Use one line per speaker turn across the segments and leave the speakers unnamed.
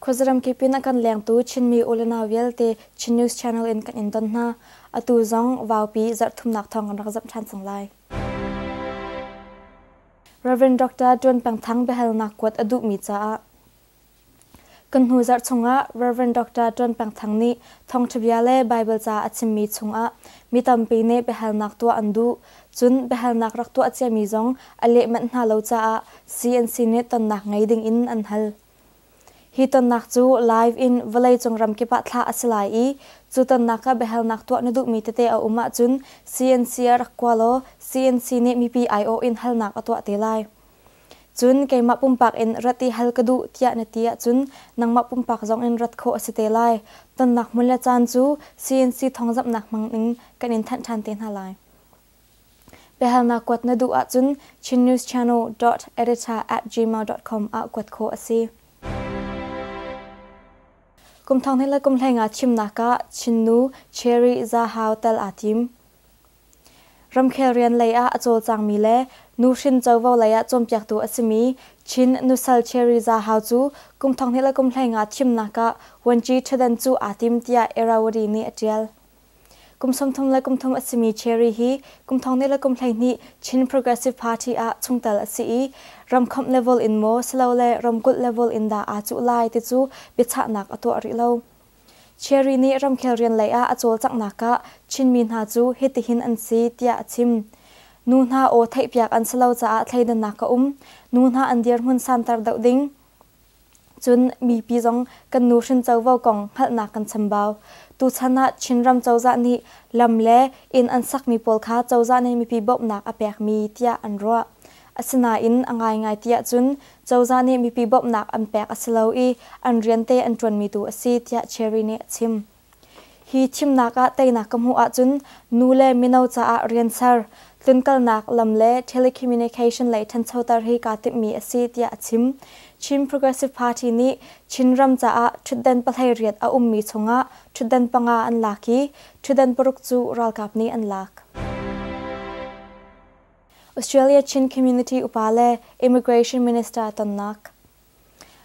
Khuazaram kipin a kan lengtu Chinmi ulenau vialte Chin News Channel in kan in don hna. Atu zong vaupi zarhthumnak thawng rak zamh ṭhan cang lai. Reverend Dr. Ṭuan Peng Thang biahalnak kuat a duhmi caah Kan hnu zarh chungah Rev. Dr. Ṭuan Peng Thang nih thawngṭhabia le Baibal ca a chimmi chungah mi tampi nih biahalnak tuah an duh. Cun biahalnak rak tuah ciami zong a leh manh hna lo caah CNC nih tonnak ngei dingin an hal. Hi tonnak cu live in vawleicung ramkip ah thlah a si lai i cu tonnak ah biahalnak tuah na duhmi tete a um ahcun CNC ah rak kua law CNC nih mipi aiawh in halnak a tuah te lai. Cun keimah pumpak in rat i hal ka duh tiah na ti ahcun nangmah pumpak zong in rat khawh a si te lai. Tonnak hmun le caan cu CNC thawngzamhnak hmang in kan in thanh ṭhan te hna lai. Biahalnak kuat na duh ahcun chinnewschannel.editor@gmail.com ah kuat khawh a si. Kum thong hnih le kum hleng ah thimnak ah Chinnu Cherry Za Hao tel aa tim. Ramkhel rian lei ah a cawlcangmi le nuhrin covo lei ah cawnpiaktu a simi Chin Nusal Cherry Zahau cu kum thonghnih le kum hleingah thimnak ah vuanci ṭhutdan cu aa tim tiah Erawari nih a ṭial. Kum sawmthum le kum thum a simi Cherry hi kum thonghnih le kum hleihnih Chin Progressive Party ah chungtel a si i ramkhawmh level in maw silole ramkulh level in dah aa cuh lai ti cu biachahnak a tuah rih lo. Cherry nih ramkhel rian lei ah a cawlcanghnak ah Chinmi hna cu hitihin an si tiah a chim. Nu hna aw theihpiak an si lo caah thleidannak ka um. Nu hna an dirhmun santer deuh ding. Cun mipi zong kan nuhrin covo kong hngalhnak kan chambau. Tuchan ah Chinram cozah nih lam le inn an sakmi pawl kha cozah nih mipi bawmhnak a pekmi tiah an ruah. Asinain a ngaingai ti ahcun cozah nih mipi bawmhnak an pek a si lo i an riante an ṭuanmi tu a si tiah Cherry nih a chim. Hi thimnak ah teinak ka hmuh ahcun nu le mino caah rian ser, tlunkalnak lam le telecommunication lei ṭhanchoter hi kaa timhmi a si tiah a chim. Chin Progressive Party nih Chinram caah ṭhutdan pahlei riat a ummi chungah ṭhutdan panga an lak i ṭhutdan paruk cu ralkap nih an lak. Australia Chin Community upa le Immigration Minister tonnak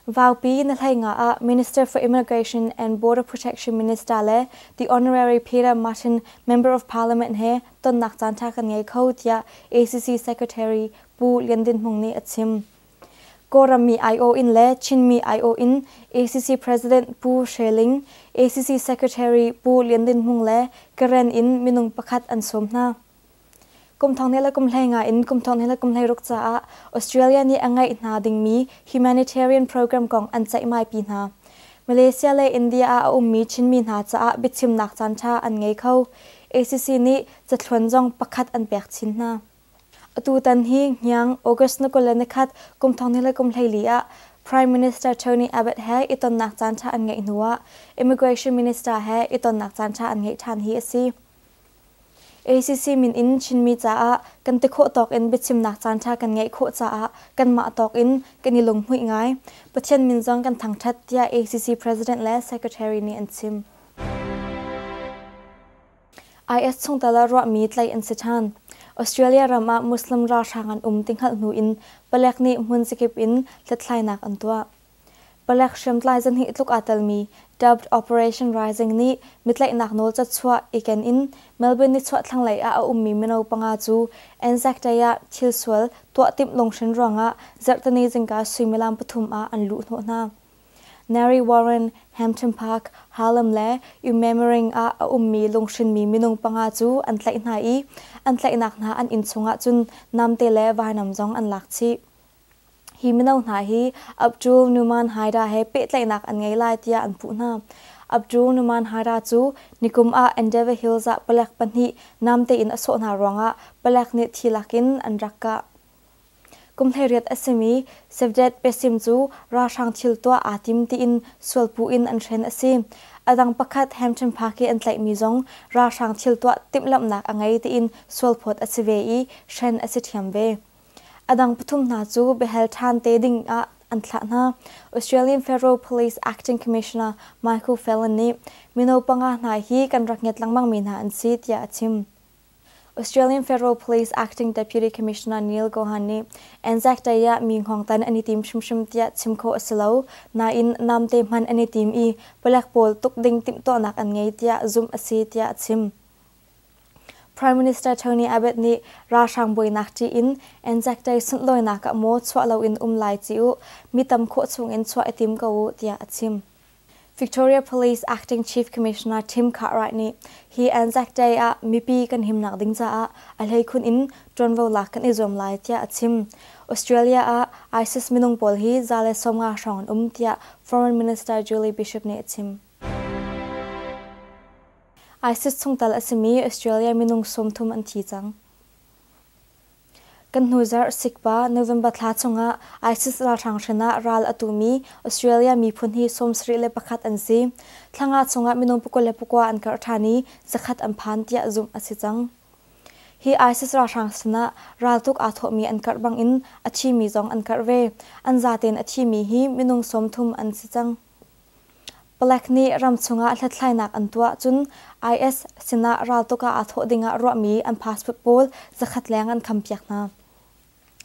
Vaupi na hleinga ah Minister for Immigration and Border Protection Minister le the Honorary Peter Martin Member of Parliament he tonnak caanṭha kan ngei kho tiah ACC Secretary Pu Lian Din Hmung nih a chim. Kawlrammi aiawh in le Chinmi aiawh in ACC President Pu Hre Ling, ACC Secretary Pu Lian Din Hmung le Karen in minung pakhat an sawm hna. Kumthong ne le kumhlei nga in kumthong ne le kumhlei ruk caah Australia nih a ngeih hna dingmi humanitarian program kong an ceihmai pi hna. Malaysia le India ah a ummi Chinmi hna caah biachimnak caanṭha an ngei kho. ACC nih cathluan zong pakhat an pek chin hna. Atutan hi Hniang August ni kul le nikhat kumthong ne le kumhlei li ah Prime Minister Tony Abbott he i tonnak caanṭha an ngeih hnuah Immigration Minister he i tonnak caanṭha an ngeih ṭhan hi a si. ACC min in Chinmi caah kan ti khawh tawk in biachimnak caanṭha kan ngeih khawh caah kanmah tawk in kan i lunghmuih ngai. Pathian min zong kan thangṭhat tiah ACC President le Secretary nih an chim. IS chungtel ah ruahmi tlaih an si ṭhan. Australia ram ah Muslim ralhrang an um ti hngalh hnu in palek nih hmun zakip in hlethlainak an tuah. palek hriamtlai zahnih tluk aa telmi dubbed operation rising nih mitlaihnak nawl catchuah i ken in melbourne nichuah thlanglei ah a ummi mino panga cu anzac-day ah thilsual tuah timh lunghrin ruangah zarhteni zingka suimilam pathum ah an luh hnawh hna nary warren hampton park harlem le ummemering ah a ummi lunghrinmi minung panga cu an tlaih hna i an tlaihnak hna an inn chungah cun namte le vainam zong an lak chih Hi mino hna hi Abdul Numan Haida he pehtlaihnak an ngei lai tiah an puh hna. Abdul Numan Haida cu nikum ah Endeavour Hills ah palek pahnih namtein a sawh hna ruangah palek nih thi lakin an rak kah. Kum hleiriat a simi Sevdet Besim cu ralhrang thil tuah aa tim tiin sualpuh in an hren a si. A dang pakhat Hampton Park i an tlaihmi zong ralhrang thil tuah timhlamhnak a ngei tiin sualphawt a si ve i hren a si ṭhiam ve. A dang pathum hna cu biahal ṭhan te ding ah an thlah hna. Australian Federal Police Acting Commissioner Michael Fallon nih mino panga hna hi kan rak ngiat lengmangmi hna an si tiah a chim. Australian Federal Police Acting Deputy Commissioner Neil Gohan nih Anzac Day ah mi hngawngtan an i tim hrimhrim tiah chim khawh a si lo. Nain namte hman an i tim i palek pawl tuk ding timhtuahnak an ngei tiah zumh a si tiah a chim. Prime Minister Tony Abbott nih ralhrang buainak ṭih in Anzac-Day sundawinak ah maw chuah loin um lai ci u, mi tam khawh chungin chuah i tim ko u, tiah a chim. Victoria Police Acting Chief Commissioner Tim Cartwright nih hi Anzac-Day ah mipi kan himnak ding caah a hleikhun in ṭuanvonak kan i zuam lai tiah a chim. Australia ah ISIS minung pawl hi za le sawmnga hrawng an um tiah Foreign Minister Julie Bishop nih a chim. ISIS chungtel a simi Australia minung sawmthum an thi cang. Kan hnu zarh sikpa November thla chungah ISIS ralhrang hrin ah ral a tumi Australia miphun hi sawm sarih le pakhat an si. Thlanga chungah minung pakua le pakua an karh ṭhan i zakhat an phan tiah zumh a si cang. Hi ISIS ralhrang sinah raltuk aa thawhmi an karh bangin a thimi zong an karh ve. An zatein a thimi hi minung sawmthum an si cang. Palek nih ram chungah hlathlainak an tuah cun IS sinah raltuk ah aa thawh dingah ruahmi an passport pawl zakhat leng an khampiak hna.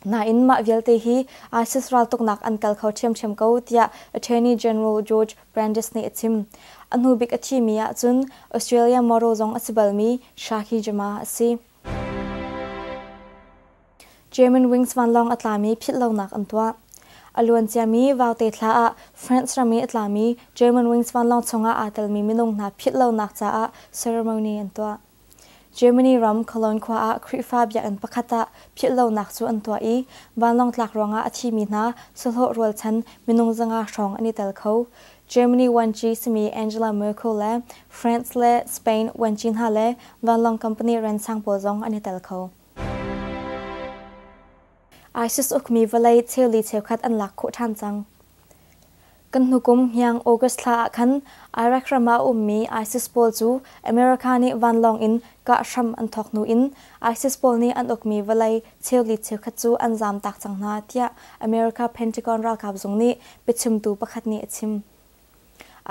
Nain mah vialte hi ISIS raltuknak an kal kho ṭhiamṭhiam ko tiah Attorney General George Brandes nih a chim. A hnubik a thimi ahcun Australia model zong a si balmi Shahi Jamal a si. German wings vanlawng a tlami philhlonak an tuah. A luanciami Vaute thla ah France ram i a tlami German wings vanlawng chungah aa telmi minung hna philhlonak caah ceremony an tuah. Germany ram Cologne khua ah Khrihfa biakinn pakhat ah philhlonak cu an tuah i vanlawng tlak ruangah a thimi hna sahlawh rualchan minung zanga hrawng an i tel kho. Germany vuanci simi Angela Merkel le France le Spain vuanci hna le vanlawng company ransang pawl zong an i tel kho. ISIS ukmi vawlei cheuli cheukhat an lak khawh ṭhan cang. Kan hnukum hniang August thla ah khan Iraq ram ah ummi ISIS pawl cu America nih vanlawng in kah hram an thawk hnu in ISIS pawl nih an ukmi vawlei Cheukhat cheukhat cu an zamtak cang hna tiah America Pentagon ralkap zung nih biachimtu pakhat nih a chim.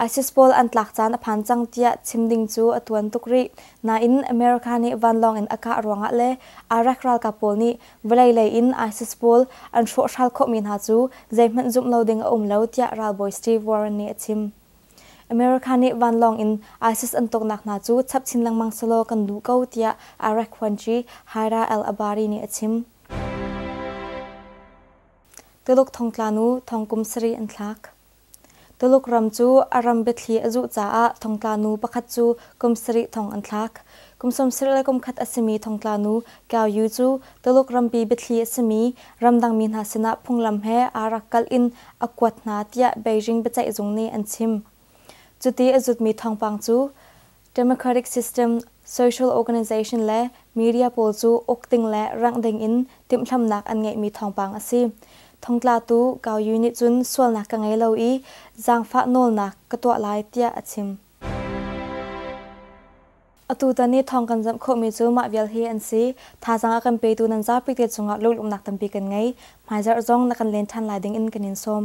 ISIS pawl an tlak caan a phan cang tiah chim ding cu a tuan tuk rih. Nain, America nih vanlawng in a kah ruangah le Iraq ralkap pawl nih vawlei lei in ISIS pawl an hrawhhral khawhmi hna cu zeihmanh zumh lo ding a um lo tiah ralbawi Steve Warren nih a chim. America nih vanlawng in ISIS an tuknak hna cu chap chin lengmang selaw kan duh ko tiah Iraq phuanci Haira al-Abari nih a chim. Tuluk thongtlanu thongkum sarih an thlak. Tuluk ram cu a ram biathli a zuh caah thongtlanu pakhat cu kum sarih thong an thlak. Kum sawmsarih le kum khat a simi thongtlanu Kyaoyu cu Tuluk rampi biathli a simi ramdangmi hna sinah phunglam he aa rak kalh in a kuat hna tiah Beijing biaceihzung nih an chim. Cuti a zutmi thawngpang cu democratic system, social organization le media pawl cu uk ding le rangh ding in timhlamhnak an ngeihmi thawngpang a si. Thongtlatu Gao Yu nih cun sualnak ka ngei lo i zaangfah nawlnak ka tuah lai tiah a chim. Atutan i thawng kan zamh khawhmi cu mah vial hi an si. Thazaang a kan petu nan zapi te cungah lunglawmhnak tampi kan ngei. Hmaizarh zong na kan len ṭhan lai ding in kan in sawm.